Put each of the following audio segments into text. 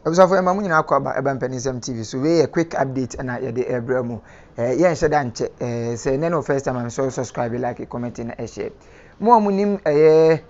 Abusuafo yɛma mo nyinaa kɔ aba ɛba mpaninsɛm TV so wei yɛ quick update na yɛde ɛbrɛ mo ɛɛ yɛ nhyɛ da nkyɛ ɛɛ sɛ ɛnɛ no first time a mesɔ subscribe like comment na ɛhyɛ mo a mo nim ɛyɛ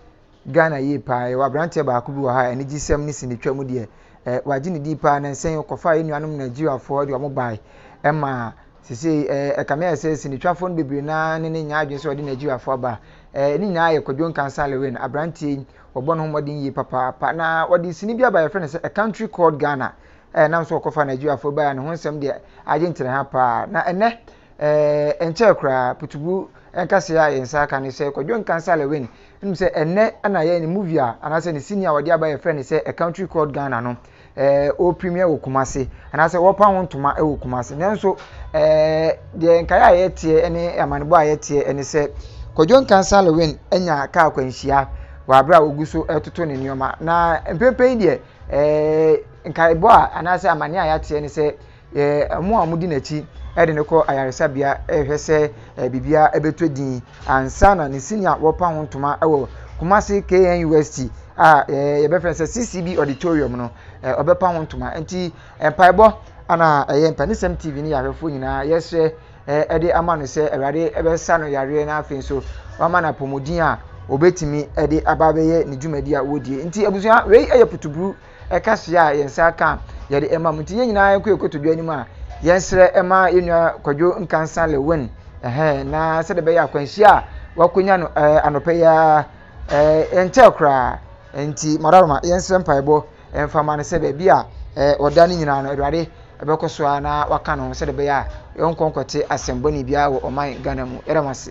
Ghana yie paa yɛwɔ abranteɛ baako bi wɔ ha a anigye sɛm ne sini twa mu deɛ ɛɛ wagye ne din paa na nsɛn kɔfa yɛ nuanom Nigeriafoɔ de wɔn bae ɛma sesei ɛɛ ɛkame ayɛ sɛ sinitwafoɔ no bebree naa ne ne nya adwene sɛ ɔde Nigeriafoɔ aba ɛɛ ne nyinaa yɛ Kwadwo Nkansah Lewin abranteɛ yi Wɔbɔ ne ho mmɔden yie papaapa. Na wɔde sini bi aba yɛfrɛ no sɛ A Country Called Ghana. Ɛɛ nam so wɔkɔfa Nigeriafoɔ baeɛ a ne ho nsɛm deɛ agye nkyerɛ ha paa. Na ɛnɛ ɛɛ nkyɛɛ koraa putugu nkaseɛ a yɛn nsa aka ne sɛ Kwadwo Nkansah Lewin. Wonim sɛ ɛnɛ na yɛn ne movie a anaasɛ ne sini a wɔde aba yɛfrɛ no sɛ A Country Called Ghana no. ɛɛ wɔpirimi wɔ Kumasi anaasɛ wɔpa ho ntoma wɔ Kumasi nanso ɛɛ deɛ nkaeɛ a yɛteɛ ne amanebɔ a yɛteɛ ne sɛ Kwadwo Nkansah Lewin anya kaa akwanhyia wɔ abere a wɔgu so retoto ne nneɛma na mprempren yi deɛ ɛɛ nkaebɔ a anaasɛ amane a yɛateɛ ne sɛ Yɛ mo a modi n'akyi de no kɔ ayaresabea rehwɛ sɛ biribiara bɛtɔ din ansa na ne sini a wɔpa ho ntoma wɔ Kumasi KNUST a yɛbɛfrɛ sɛ CCB auditorium no ɔbɛpa ho ntoma nti mpaebɔ ana ɛyɛ mpanisɛm TV ne yɛahwɛfoɔ nyinaa yɛsrɛ ɛde ama no sɛ awurade ɛbɛsa no yareɛ na afei nso wama no apɔmuden a obetumi de aba abɛyɛ ne dwumadi a wɔdie nti abusua wei yɛ putuburu ɛka soa a yɛn nsa aka a yɛde rema mu nti yɛn nyinaa yɛnkɔ yɛkɔto dwa anim a yɛnsrɛ ɛma yɛn nua kwadwo nkansa lewin ɛhɛn na sɛdeɛ bɛyɛ akwanhyia a wakɔnya no ɛɛ anɔpɛ yi ara ɛɛ ɛnkyɛ koraa nti madaroma yɛnsrɛ mpaebɔ ɛmfa ma no sɛ baabi a ɛɛ ɔda no nyinaa no awurade ɛbɛkɔ so a na waka no sɛdeɛ bɛyɛ a yɛnkɔ nkɔte asɛmbɔne biara wɔ ɔman ghana mu yɛda mo ase